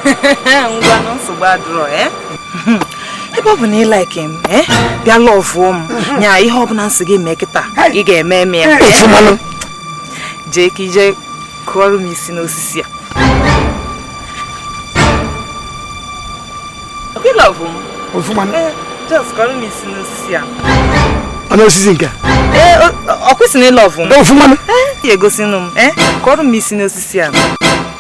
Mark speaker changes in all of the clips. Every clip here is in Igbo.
Speaker 1: ngwanụ nsogbu adịrọ eh? ebe ọ bụ na ị like m eh? bịa lọvụọ m nya ihe ọbụla m sị gị mee kịta ị ga-eme eme ya eh? jee ka i jee kụọrọ m isi n'osisi a ị love m ọfụma just kụọrọ m isi n'osisi a ọ n'osisi
Speaker 2: nke a
Speaker 1: ọkwa ị sị na ị love m ọfụma ya
Speaker 2: egosinụ m
Speaker 1: kụọrọ m isi n'osisi a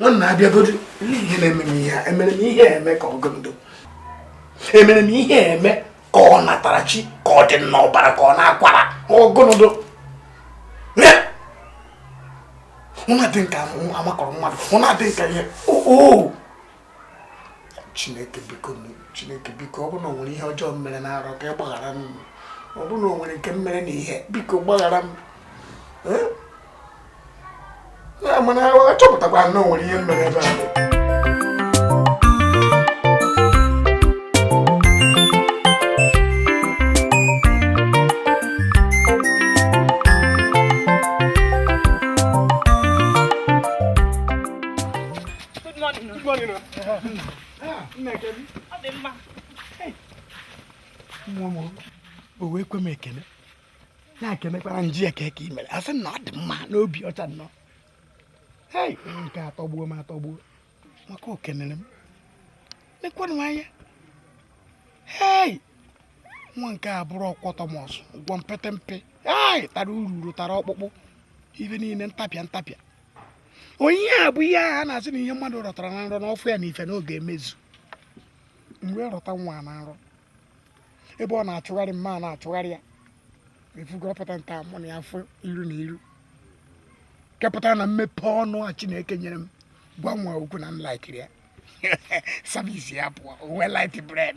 Speaker 3: nwanna bịagodu ihe na-eme m ihe emere m ihe eme ka ọ gụnụ dụ emere m ihe eme ka ọ natara chi ka ọ dị n'ọbara ka ọ n'akwara ọ gụnụ dụ ọ na-adị m ka amakọrọ mmadụ ọ na-adị m ka ihe oo chineke biko chineke biko ọ bụrụ na o nwere ihe ọjọọ m mere na nrọ ka ị gbaghara m ọ bụrụ na o nwere nke m mere na ihe biko gbaghara m mana achọpụtakwa na o nwere ihe mere ebe a na-ekenekwara m jụ ya kee ka i mere ọ sị na ọ dị mma n'obi ọcha nnọọ hei nke a atọgbuo m atọgbuo maka o kenere m lekwanụ anya hei nwa nke a bụrụ ọkwọtọmọs gwọ mpete mpe hei tara ururu tara ọkpụkpụ ife niile ntapịa ntapịa ọ ihe a bụ ihe a na-asị na ihe mmadụ rọtara na nrọ na ọ fụ ya na ife na ọ ga-emezu m wee rọta nwa na nrọ ebe ọ na-achụgharị m m ana-achụgharị ya efugo ọ pụta taa mụ na ya fụ iru na iru ka ọ pụta na m mepee ọnụ a chineke nyere m gwa nwa okwu na m laikiri ya service apụọ uwe light bred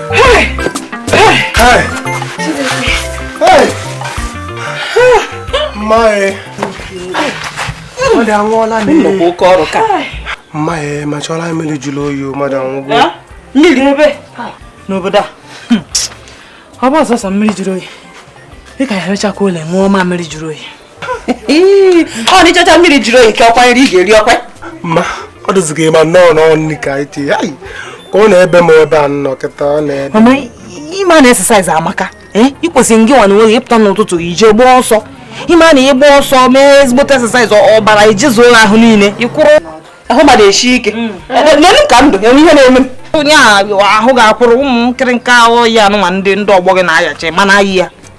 Speaker 2: mma ya emechọla mmiri jụrụ oyi mmadụ anwụgo mmiri
Speaker 1: ebe n'obodo a ọ bụ sọsọ mmiri jụrụ oyi dịka ya emechakwa ụlọ ṅụọ ma mmiri jụrụ oyi ọ na ịchọcha mmiri jụrụ oyi ka ọkwa nri ị ga-eri ọkwa ma
Speaker 2: ọ dịzighị ma nnọọ n'ọnụ ka anyị tinye ka ọ na-ebe m ebe a nnọọ kịta ọ na-ebe ị
Speaker 1: ma na exercise amaka eh? ị kwesịrị ngị nwa na onwe gị ịpụta n'ụtụtụ ije gbaa ọsọ ị ma na ị gba ọsọ mee ezigbote exercise ọbara ejezuo ahụ niile ịkwụrụ ahụ mmadụ esi ike mm. lenụ ka m dụ enwe ihe na-eme onye ahụ ga-akwụrụ ụmụ nkịrịnka ọya anụnwa ndị ndị ọgbọ gị na-ayacha ị ma na-aya ya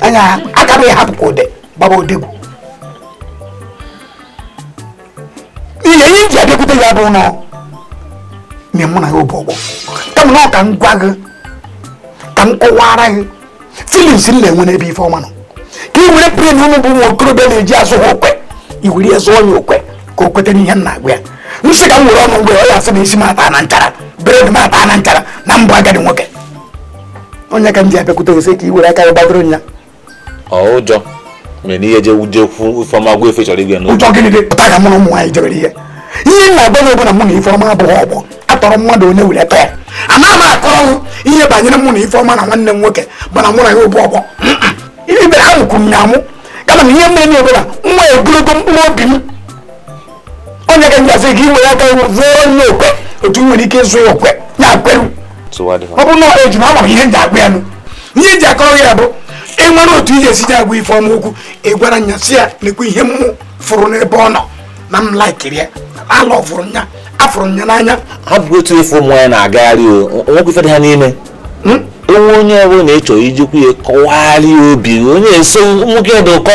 Speaker 3: anya aka m hapụ ka ode gbaba odegwu ihe ihe ji abịakwute ya bụ na nye mụ na ya ọ bụ ọgbọ kama na ọ ka m gwa gị ka m kọwara gị feelings m na-enwe n'ebe ifeọma nọ ka ị were plan unu bụ ụmụ okorobịa na-eji azụ ha okwe i were ya zụọ ya okwe ka o kweta n'ihe m na-agwa ya m sị ka m were ọnụ m gwa ya ọ ya asị na isi m ata na nchara beard m ata na nchara na m bụ agadi nwoke ọ ya ka m ji abịakwute gị sị ka i were aka gị gbadoro nya ọ
Speaker 4: ụjọ mere na ihe je wuje kwu ifeọma gwa ya ife ị chọrọ ịgwa ya ụjọ ụjọ gịnị dị bụ taa ka mụ na ụmụ
Speaker 3: nwaanyị jebere ihe ihe m na-agwa gị bụ na mụ na ifeọma abụghị ọgbọ atọrọ mmadụ onye were tọọ ana m akọrọ m ihe banyere mụ na ifeọma na nwanne m nwoke mana mụ na ya ụbụ ọgbọ ibe ha mụkwuru m ya amụ kama na ihe mere na ebere nwa egologo mkpụrụ obi m ọ ya ka m ji asị gị were aka zụọ nya okwe otu nwere ike ịzụ ya okwe ya kweru ọ bụ na eji m ama ihe m ji agwa ya nụ ihe ji akọrọ ya bụ i nwere otu i ji esi ji agwa ifeọma okwu ị gwara nya sị ya nekwa ihe m fụrụ n'ebe ọ nọ na m laikiri ya ala ọ fụrụ nya afụrụ nya n'anya ha bụ otu ife
Speaker 4: ụmụ ya na-agagharị o nwekwa ife dị ha n'ime hmm? o nwe onye ọbụla na-echọ ijikwu ya kọwagharị obi onye eso nwoke dị ụkọ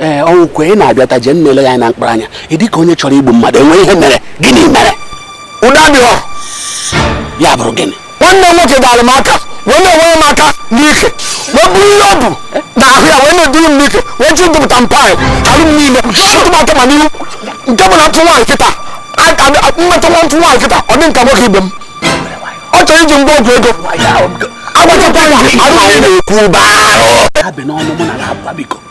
Speaker 3: ee ọnwụkwe ị na-abịata jee na-ele gị anya na mkpụrụ anya ị dịka onye chọrọ igbu mmadụ o nwe ihe mere gịnị mere ụda dị ọ ya bụrụ gịnị nwanne m nwoke dara m aka wee na-enwere m aka n'ike wee bụrụ ihe ọ bụ na ahụ ya wee na-eduru m n'ike wee ji dụpụta m paị alụ m niile tụtụ m aka ma n'ihu nke bụ na ntụ nwaanyị kịta mmetụ nwa ntụ nwaanyị kịta ọ dị m ka nwoke ibe m ọ chọrọ iji m gwọ ọgwụ ego agbachakwa ya alụ m niile na-ekwu barụ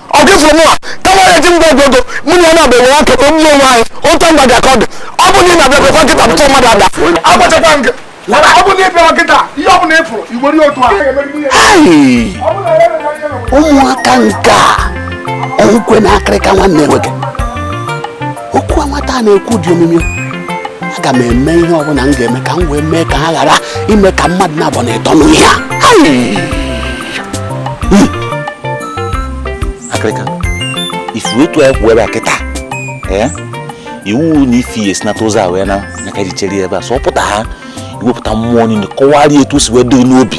Speaker 3: ọ gị fụrụ mụwa kama ya ji m gwọ ọgwụ ego mụ na ya na-abụ enwe aka kpọ mgbe onwe anyị otu mba dị aka ọ dị ọ bụ na ị na-abịa kwekwa kịta pụta mmadụ ada agbachakwa nke ọ bụ na ị bịa kịta ihe ọ bụla ị fụrụ igbori otu a ụmụaka nke a ọnwụkwe na akịrịka nwanne nwoke okwu a nwata na-ekwu dị omimi aga m eme ihe ọbụla m ga-eme ka m wee mee ka ha ghara ime ka mmadụ na-abụ na ịtọ n'ihe a hmm. akịrịka
Speaker 4: ị fụ etu anyị kwụ ebe a kịta eh? iwu na ifi ya si nata ụzọ a wee na aka ji chere ebe a sọ pụta ha i wepụta mmụọ niile kọwarịa etu o si wee dịrị n'obi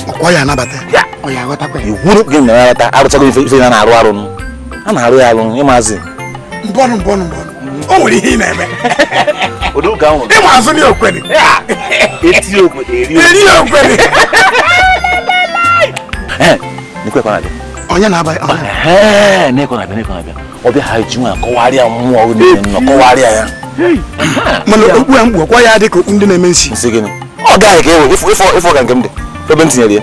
Speaker 4: iwuru gị na ya ghọta arụchago ife na na-arụ arụ a na-arụ ya arụ ịmazi mbọnụ
Speaker 3: mbọnụ mbọnụ o nwere ihe ị na-eme ị ma azụ na okwere eri okwere onye na-aba
Speaker 4: ọbịa ha ji nwa kọwarịa mmụọ nọ kọwarịa ya
Speaker 3: mana okpu a m kpu ọkwa ya dị ka okpu ndị na-eme nsi ọ gaghị ka
Speaker 4: ewe ị fụ ka nke m dị ebe m tinyere ya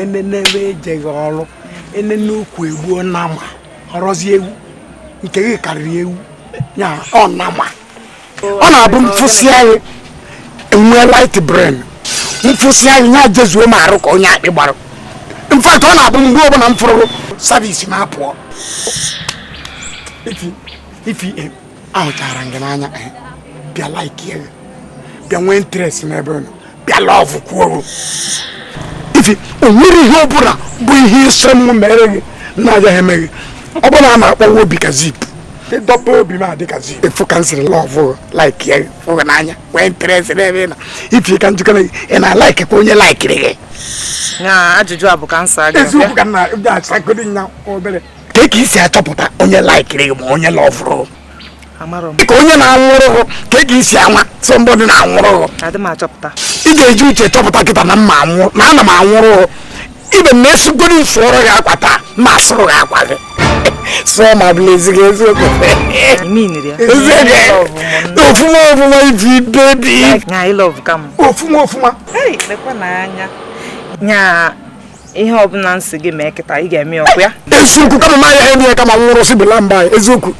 Speaker 3: enene ebe ejeghị ọrụ enene ukwu egbuo nama ọrọzi ewu nke gị karịrị ewu ya ọ nama ọ na-abụ m fụsịa gị enwee light brain m fụsịa gị ya jezuo m arụ ka onye akpị gbara in fact ọ na-abụ mgbe ọbụla m fụrụ service m apụọ Ify eh, ahụchara m gị n'anya eh, bịa like gị bịa nwee interest n'ebe ị nọ bịa lọvụ kwuo Ify o nwere ihe ọbụla bụ ihe ị sị m mere gị na-agaghị eme gị ọ bụ na a na-akpọwa obi ka zip ị dọba obi m adị ka zip ị fụ ka m siri lọvụ like ya fụ gị n'anya nwee interest n'ebe ị nọ Ify ka m jụkene gị ị na-alaikikwa onye laikiri gị
Speaker 1: ajụjụ a bụ ka m saa gị eziokwu ka nna ga-asagodi
Speaker 3: nya obere ka ka e si achọpụta onye laikiri gị ma onye lọvụrụ gị ka onye na-anwụrụ gị ka ị ga-esi ama somebody na-anwụrụ gị ị ga-eji uche chọpụta kịta na mma anwụ na ana m anwụrụ gị ibe m na-esikwa sụọrọ gị akwa taa ma asụrụ gị akwa gị sụọ ma bụla ezighị eziokwu ofuma ofuma Ify baby ofuma ofuma
Speaker 1: nya ihe ọbụla m sị gị mee kịta ị ga-emekwu ya eziokwu kama m
Speaker 3: ya eme ya ka m nwụrụ si bela mba
Speaker 1: eziokwu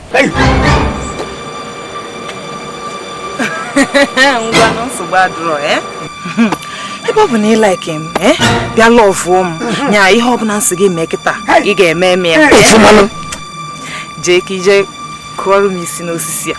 Speaker 1: ngwa na nsogbu adụrọ eh? ebe ọ bụ na ị like m eh? bịa lọvụọ m nya ihe ọbụla m sị gị mee kịta ị ga-eme eme ya eh? jee ka ị je kụọrọ m isi n'osisi a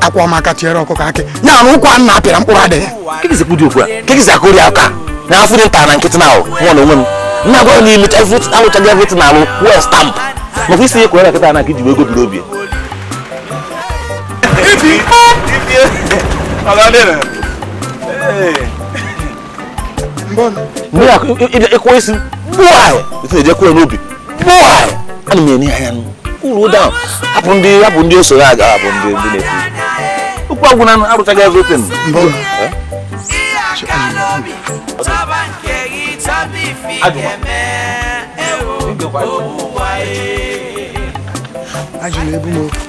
Speaker 3: akwa ọmaka tiere ọkụkọ akị ya na ụkwa nna apịara mkpụrụ adịghị kee ka ị si ekwudi okwu
Speaker 4: a kee ka ị si akụri aka na afụ dị nta na nkịtị na ahụ nwa na onwe m nna gwa na imecha alụchaa gị everything na alụ kwuo stamp maka isi ihe kwere nkịta na ka iji wee gobiri obi Hey! mgbe ya ị kụwa isi gbuai esi na-eje kụọ m n'obi gbuai ana m enye anya uru ụda ahụ hapụ ndị hapụ ndị osoro aga hapụ ndị ndị na-ekwu okwu agwụ na arụchaghị everything
Speaker 3: ajụla ebu m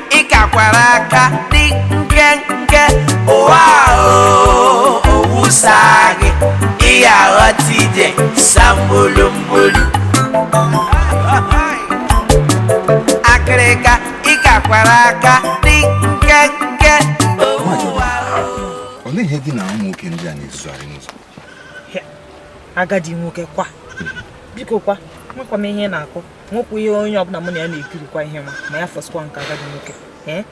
Speaker 5: ị kakwara aka dị nkenke ụwa o owusa gị ihe aghọta ije sambulumbulu akịrịka ị kakwara aka dị nkenke
Speaker 6: ụwa o olee ihe gị na ụmụ nwoke ndị a na-ezuzugharị n'ụzọ
Speaker 1: agadi nwoke kwa biko kwa makwa m ihe ị na-akọ nwekwa ihe onye ọbụla mụ na ya na-ekirikwa ihe ma ma ya fọsikwa nke agadi nwoke eh?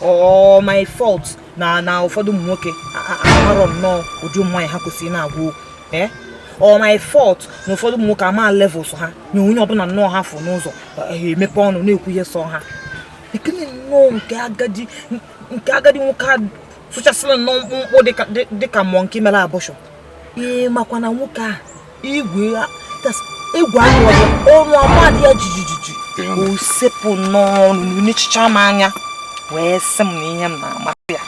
Speaker 1: ọ my fault na na ụfọdụ ụmụ nwoke amarọ nnọọ ụdị ụmụ nwaanyị ha kwesịrị na-agwa okwu eh? ọ my fault na ụfọdụ ụmụ nwoke ama levels ha na onye ọbụla nnọọ ha fụ n'ụzọ ha eh, emepe ọnụ na-ekwu ihe sọ ha nekene nnọọ nke agadi nke agadi nwoke sụchasịrị nnọọ mkpụmkpụ dịka monkey mere abortion ee makwa na nwoke a igwe egwu ahụ ọnụ amadị ya jijijiji o sepụ n'ọnụ na-echicha m anya wee sị m na ihe m na-amasị ya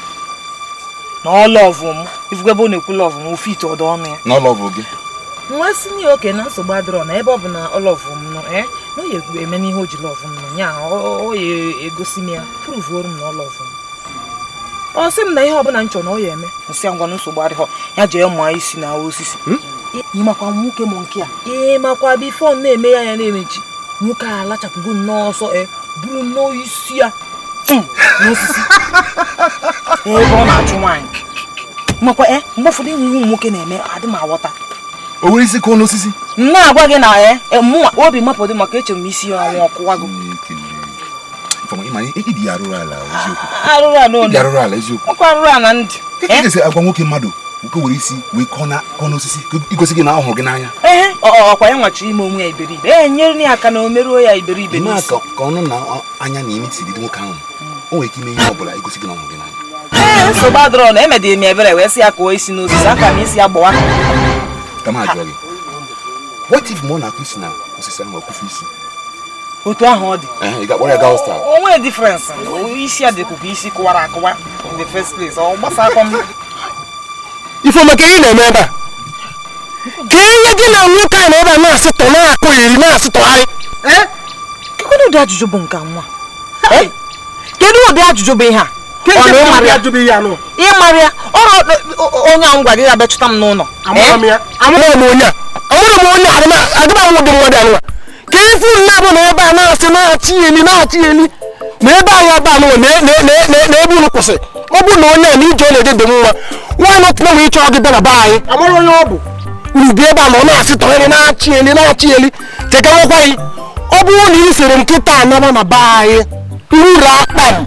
Speaker 1: na ọ lọvụ m ị fụgo ebe ọ na-ekwu lọvụ m ofe ite ọdọ ọnụ
Speaker 6: ya wee sị
Speaker 1: na okay na nsogbu adịrọ na ebe ọ bụ na ọ lọvụ m nọ eh, na ọ ya-eme n'ihe o ji lọvụ m nọ ya ọ ya-egosi m ya pụrụvuoro m na ọ lọvụ m ọ sị m na ihe ọbụla m chọrọ na ọ ya-eme m sị ngwa nsogbu adịrọ ya jee mụọ isi na osisi hmm? ị makwa nwoke mụ nke a ị makwa before m na-eme anya na-emechi nwoke a lachapụgo n'ọsọ buru nnọọ isi ya hmm, n'osisi ebe ọ na-achụ nwaanyị makwa e mgbe ụfọdụ e nwe ihe ụmụ nwoke na-eme adị m aghọta o were isi
Speaker 6: kụọ n'osisi m na-agwa gị na ya
Speaker 1: e, e, mụnwa obi mapụdị maka echere m isi ya ọnwa ọ kụwago arụrụ ala
Speaker 6: eziokwu arụrụ ala
Speaker 1: ndị eh? agwa
Speaker 6: nwoke mmadụ nke were isi wee kụọ na kụọ n'osisi igosi gị na ọ hụrụ gị n'anya ee ọkwa yanwa
Speaker 1: chọ ime onwe ya iberibe ee nyere ya aka na o meruo ya iberibe n'isi ka ọnụ
Speaker 6: na anya na imi dịrị nwoke ahụ o nwere ike ime ihe ọ bụla igosi gị na ọ hụrụ gị n'anya ee nsogbu adịrọ na
Speaker 1: emedịrị m ebere wee sị ya kụọ isi n'osisi aka m isi ya gbawa ka
Speaker 6: m ajụọ gị what if mgbe ọ na-akụ isi na osisi ahụ ọ kụfu isi
Speaker 1: otu ahụ ọ
Speaker 6: dị o nwere
Speaker 1: difference isi ya dịkwa ka isi kụwara akụwa in the first place ọ gbasakwa
Speaker 2: m Ifeoma ke ị na-eme ebe a ke ihe gị na nwoke a nọ ebe a na-asụtọ na-akụ iri na-asụtọgharị
Speaker 1: kedu ụdị ajụjụ bụ nke nwa kedu ụdị ajụjụ bụ ihe a ị mara ya onye ahụ gwara gị ya bịa chọta m n'ụlọ
Speaker 2: amarọ m onye a amarọ m onye a adịba m ụdị mmadụ anụwa ke ife unu naabọ nọ ebe a na-asị na-achị eli na-achị eli na be anyị ebe a nụwa na e- na- na- na- na ebe unu kwụsị ọ bụrụ na onye a na ije ọ na-eje dị mma why not wee chọọ gị bịa na be anyị a mara onye ọ bụ unu bịa ebe a na ọ na-asị tọrọ eli na-achị eli na-achị eli chekawakwa gị ọ bụrụ na ị siri nkịta anaba na be anyị uru akpa m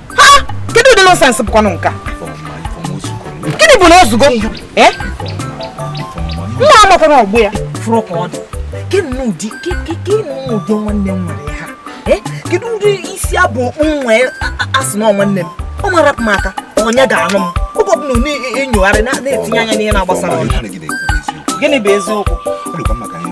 Speaker 1: ha kedu ụdị nonsense bụkwanụ nke a gịnị bụ na o zugo Eh? nwa a makwa na ọ bụ ya fụrụ ka ọ dị Ke nnọọ ụdị ke ke ke nnọọ ụdị nwanne m nwere ha Eh? kedu ụdị isi abụ okpu m nwee a- a- asị na ọ nwanne m ọ ma rapụ m aka onye ga-anụ m oge ọbụla ọ na-enyogharị na- na-etinye anya n'ihe na-agbasarọ ya. Ọ dị mma na ihe ị na-ekwu bụ eziokwu. gịnị bụ eziokwu Ọ dịkwa mma ka anyị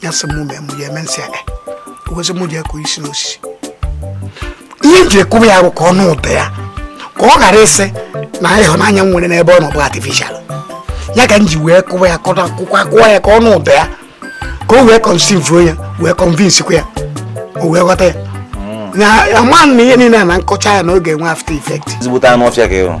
Speaker 3: ya sị m mee mụ ya eme nsị aka wezi mụ ji akụ isi n'osisi ihe m ji akụba ya bụ ka ọ nụ ụda ya ka ọ ghara ịsị na ịhụnanya m nwere n'ebe ọ nọ bụ artificial ya ka m ji wee kụwa ya kụwa ya ka ọ nụ ụda ya ka o wee kọnsivuo ya wee kọnvinsikwa ya o wee ghọta ya na ama na ihe niile a na-akọcha ya na ọ ga-enwe after effect ezigbote anụ ọfịa ka ị hụrụ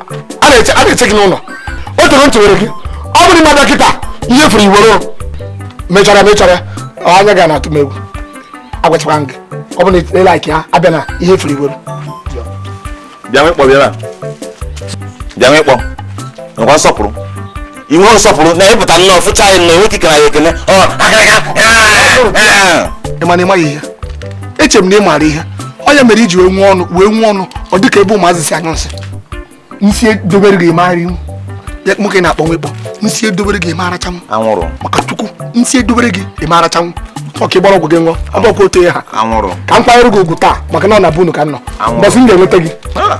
Speaker 2: a na-eche gị n'ụlọ o toro ntị were gị ọ bụrụ ma ị bịa kịta ihe ị fụrụ i were mechara mechara anya ga na-atụ m egwu agwachakwa gị ọ bụrụ na ị like ya abịana ihe ị fụrụ i
Speaker 4: were bịa nwekpọ bịara bịa nwekpọ nwekwa nsọpụrụ ị nweghị nsọpụrụ na ị pụta nnọọ fụcha anyị nnọọ enweghị ikele anyị ekele ọ
Speaker 2: akịrịka ị ma na ị maghị ihe echere m na ị maara ihe onye mere i ji wee nwee ọnụ wee nwee ọnụ ọ dịka ebe ụmụazị si anyụ nsị nsị edobere gị mara ihu ya nwoke na-akpọ nwekpọ nsị edobere gị ị ma rachanwụ anwụrụ maka
Speaker 4: chukwu
Speaker 2: nsị edobere gị ị ma rachanwụ ọka ịgbara ọgwụ gị ṅụọ ọ bụkwa otu ya ha anwụrụ ka m kwanyere gị
Speaker 4: ugwu taa
Speaker 2: maka na ọ na be unu ka m nọ Anwụrụ. mbọsị m ga-enweta gị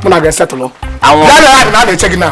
Speaker 2: mụ na gị esetụlụ Anwụrụ. ya na ya na
Speaker 4: a na-eche gị na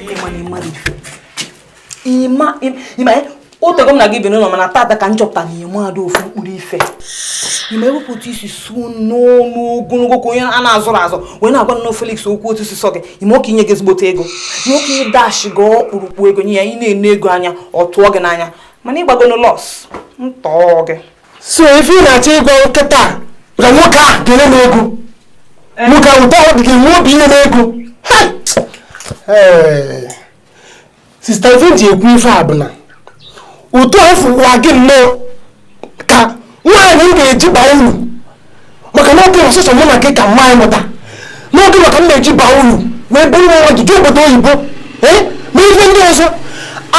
Speaker 1: o tego m na gị bi n'ụlọ mana tata ka m chọpụta na ị mada ofu mkpụrụ ife i mee wepụta isi su n'ọnụ ogologo ka onye a na-azụrụ azụ wee na-agwa nnọọ Felix okwu otu o si sọ gị ị ma ọ ka enye gị ezigbote ego ọ ka adashi gị ọkpụrụkpụ ego nye ya ị na-ene ego anya ọ tụọ gị n'anya mana ị gbagonụ loss ntọọ gị so ife ị
Speaker 2: na-achọ ịgwa m kịta bụ na nwoke a ga-enye m ego eh. nwoke ahụ taa ọ dị gị nwe obi inye m ego eh. sista ife m ji ekwu ife a bụ na ụtụ afọ ụwa gị nnọọ ka nwanne m ga-eji baa uru maka na ọ bụ sọsọ mụ na gị ka mama mụta na ọ gị ka m ga-eji baa uru wee bụrụ nwa nwa jee obodo oyibo ee na ife ndị ọzọ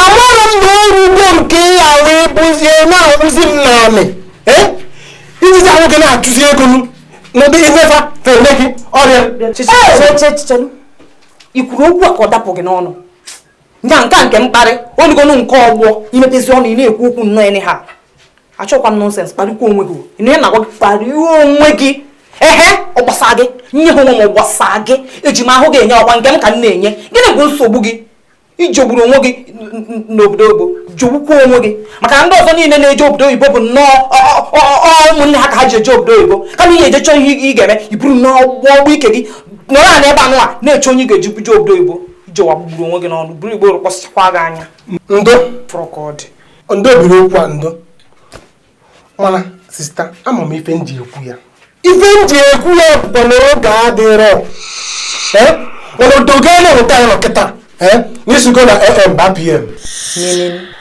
Speaker 2: amarọ m na ọrụ ugbo nke ya wee bụzie na-akpụzi m n'anị ee i jizi ahụ gị na-achụzi ego n'ụdị imefa fere gị
Speaker 1: ọrịa i kwuru okwu a ka ọ dapụ gị n'ọnụ nya nke a nke mkparị onugonu nke ọgbọ i mepezi ọnụ ị na-ekwu okwu nnọọ ha achọkwa m nonsense kparịkwa onwe gị a na-agwa gị kparịwa onwe gị ehe ọ gbasaa gị nye ha onwe m ọ gbasaa gị eji m ahụ gị enye ọ kwa nke m ka m na-enye gịnị bụ nsogbu gị i jegburu onwe gị n'obodo oyibo jegbukwa onwe gị maka na ndị ọzọ niile na-eje obodo oyibo bụ nnọọ ụmụnne ha ka ha ji eje obodo oyibo kama ị ya-eje chọọ ihe ị ga-eme i buru nnọọ ogbe ike gị nọrọ ala ebe anụwa na-eche onye ị ga-eji buje obodo oyibo i jewa gbugburu onwe gị n'ọnụ buru igbo kpọsịchakwa gị anya ndo fụrụ
Speaker 2: ka ọ dị
Speaker 1: ndo biri okwu
Speaker 2: a ndo mana sista ama m ife m ji ekwu ya ife m ji ekwu ya bụkwa na oge adịrọ mana odogo a na-enweta ya nọ kịta na i sigo na am baa pm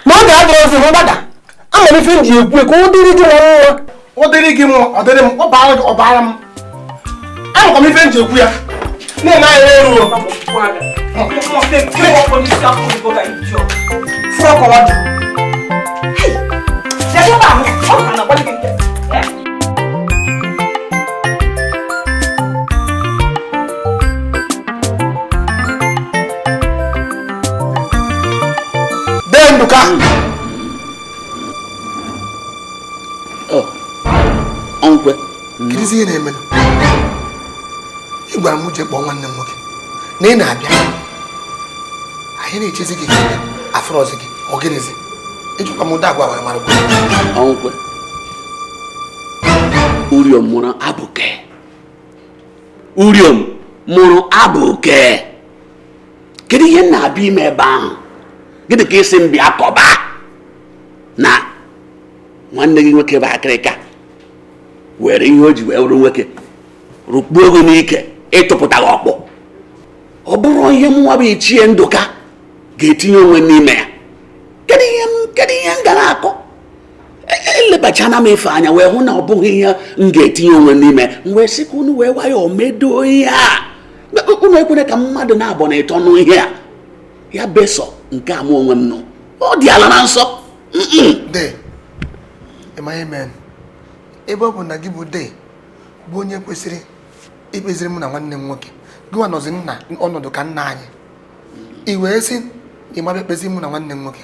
Speaker 2: na oge adịrọzi mgbada ama m ife m ji ekwu ya ka ọ dịrị gị na mma ọ dịrị gị mma ọ dịrị m ọ baara gị ọ baara m amakwa m ife m ji ekwu ya na-eme anyị eru fụrụ ọkọwa dị Dee Nduka
Speaker 7: ọnkwe kedụzi
Speaker 2: ihe na-eme ị gwara m je kpọọ nwanne m nwoke na ị na-abịa anyị na-echezi gị afụrọzi gị ọ gịnịzi ejikwa m ụda agwa wee mara
Speaker 7: ọnkwe uriom mụrụ abụke uriom mụrụ abụke kedu ihe m na-abịa ime ebe ahụ gịnị ka ị sị m bịa kọba na nwanne gị nwoke bụ akịrịka were ihe o ji wee wụrụ nwoke rụkpuo gị n'ike ịtụpụta gị ọkpụ ọ bụrụ ihe mụnwa bụ ichie ndụka ga-etinye onwe n'ime ya kedu ihe m ga na-akọ elebachana m ife anya wee hụ na ọ bụghị ihe m ga-etinye onwe n'ime m wee sị ka unu wee nwayọọ medoo ihe a unu ekwere ka mmadụ naabọ na ịtọ nụ ihe a ya bụ sọ nke a mụ onwe m nụ ọ dị ala na nsọ
Speaker 2: de ị ma ihe menụ ebe ọ bụ na gị bụ de bụ onye kwesịrị ikpeziri mụ na nwanne m nwoke gịnwa nọzi n'ọnọdụ ka nna anyị i wee sị ị ma bịa kpeziri mụ na nwanne m nwoke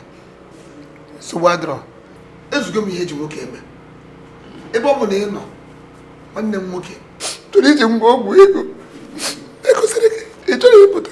Speaker 2: nsogbu adịrọ ezugo m ihe eji nwoke eme ebe ọ bụ na ị nọ nwanne m nwoke chọrọ iji m gwọ ọgwụ ego egosiri gị ị chọrọ ịpụta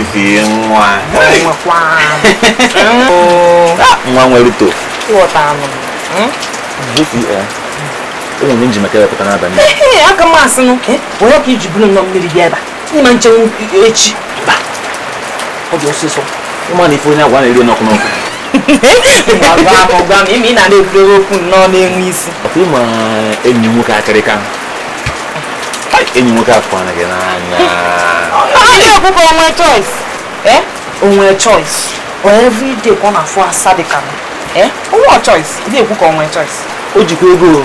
Speaker 4: isi nwa nwa nwere uto ụmụ m ji maka ya pụta n'abalị aka m asị
Speaker 1: n'ụka onye ka iji bụrụ nnọọ mmiri bịa ebe a ị ma echenwu echi mba ọ dị ọsịsọ ị ma na ife onye
Speaker 4: agwa na-eri n'ọkụ
Speaker 1: n'ọkụ gwa m ihe ị na-ekwurewe okwu nnọọ na-enwe isi ị
Speaker 4: ma enyi m nwoke akịrịka enyi m nwoke afụ anaghị n'anya
Speaker 1: onye ọkụkọ o nwe choice eh? o nwe choice every day ka ọ na-afụ asa dị ka eh? o nwe choice na-ekwu ka o nwe choice o jikwa ego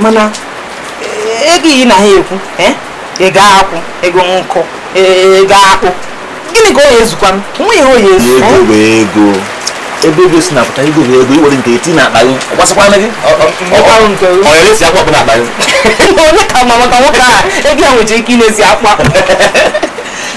Speaker 1: mana eh, ego ị na ha ekwu eh? ego akwụ ego nkụ eh, ego akpụ gịnị ka ọ ya-ezukwa m nwa ihe ọ ya-ezu ego bụ ego
Speaker 4: ebe ego si na-apụta ego bụ ego i were nke eti n'akpa gị gbasakwana gị ọyọrọ esi akwa ọkpụ n'akpa gị onye ka ma
Speaker 1: maka nwoke a ego ya nwere ike ị na-esi akwa